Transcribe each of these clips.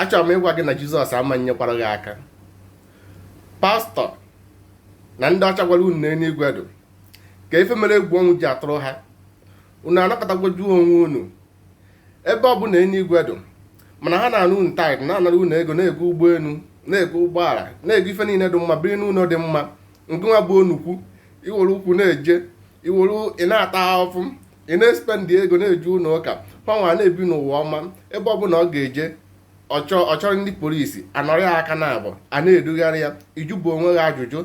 achọrọ m ịgwa gị na jizọs ama nyekwara gị aka pastọ na ndị ọcha gwara unu na enuigwe dụ ka ife mere egwu ọnwụ ji atụrụ ha unu anakọtagwoju onwe unu ebe ọ bụ na enuigwe dụ mana ha na-ana unu taịt na-anara unu ego na-ego ụgbọelu na-ego ụgbọala na-ego ife niile dị mma biri n'ụlọ dị mma ngịnwa bụ onukwu iwere ụkwụ na-eje iwere ị na-ata ahụfụ ị na-espendị ego na-eje ụlọ ụka hanwa na-ebi n'ụwa ọma ebe ọbụla ọ ga-eje ọ chọrọ ndị polisi anọrọ ya aka naabụ a na-edugharị ya ị jụbu onwe gị ajụjụ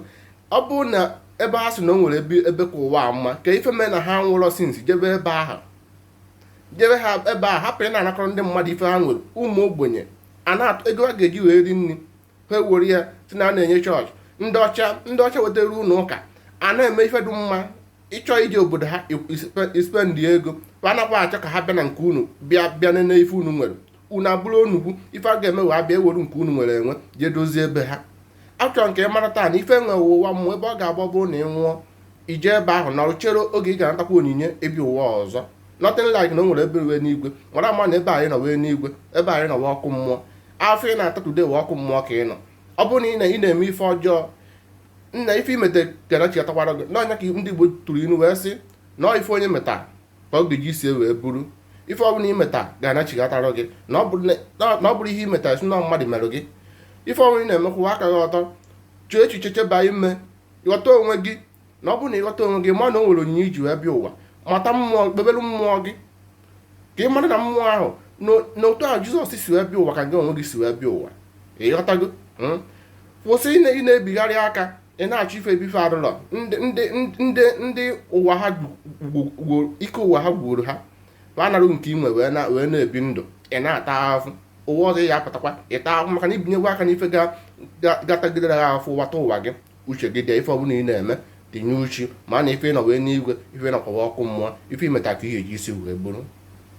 ọ bụrụ na ebe ha si na o nwere ebe ka ụwa mma kee ife mee na ha anwụrọ sinsi jebe ebe ahụ jebe ebe ahụ hapụ ị na-anakọrọ ndị mmadụ ife ha nwere ụmụ ogbenye ego ha ga-eji wee ri nri ha ewere ya sị na a na-enye chọọchị ndị ọcha wetara ụlọ ụka a na-eme ife dị mma ị chọọ ije obodo ha ispendị ego a nakwa achọ ka ha bịa na nke unu bịa nene ife unu nwere unu abụrụ onukwu ife ha ga-eme wụ abịa ewere nke unu nwere enwe jee dozie ebe ha achọrọ m ka ị mara taa na ife wụ ụwa mmụọ ebe ọ ga-agba bụ na ị nwụọ ị jee ebe ahụ nọrọ chere oge ị ga-anatakwa onyinye ịbịa ụwa ọzọ nothing like na o nwere ebe wụ enuigwe mara ama na ebe anyị nọ wụ enuigwe ebe anyị nọ wụ ọkụ mmụọ afụfụ ị na-ata today wụ ọkụ mmụọ ka ị nọ ọ bụrụ na ị na-eme ife ọjọọ na ife imeta ga-anachighatakwara gị na ọ ya ka ndị Igbo tụrụ ilu wee sị na ọ ife onye meta ka ọ ga-eji isi ya wee buru ife ọbụla imeta ga-anachighatara gị na ọ bụrọ ihe imeta ị sị na mmadụ mere gị ife ọbụla ị na-eme kwụwa aka gị ọtọ chee echiche cheba ime ghọta onwe gị na ọ bụrụ na ịghọta onwe gị ma na o nwere onyinye iji wee bịa ụwa mata mmụọ kpebere mmụọ gị ka ị mara na mmụọ ahụ na otu ahụ jizọs si wee bịa ụwa ka gị onwe gị si wee bịa ụwa ịghọtago hmm? kwụsị ị na-ebigharị aka ị na-achọ ife ebe ife adụrọ ndị ụwa ha ike ụwa ha gwuru ha ma anarụ nke inwe wee na-ebi ndụ ị na-ata ahụhụ ụwa ọzọ ị ya-apụtakwa ịta ahụhụ maka na ibinyegwo aka n'ife ga-atagidere ha ahụhụ ghọta ụwa gị uche gị dị ya ife ọbụla ị na-eme tinye uche ma na ife ị nọ wụ enuigwe ife ị nọkwa wụ ọkụ mmụọ ife imeta ka ị ya-eji isi wee buru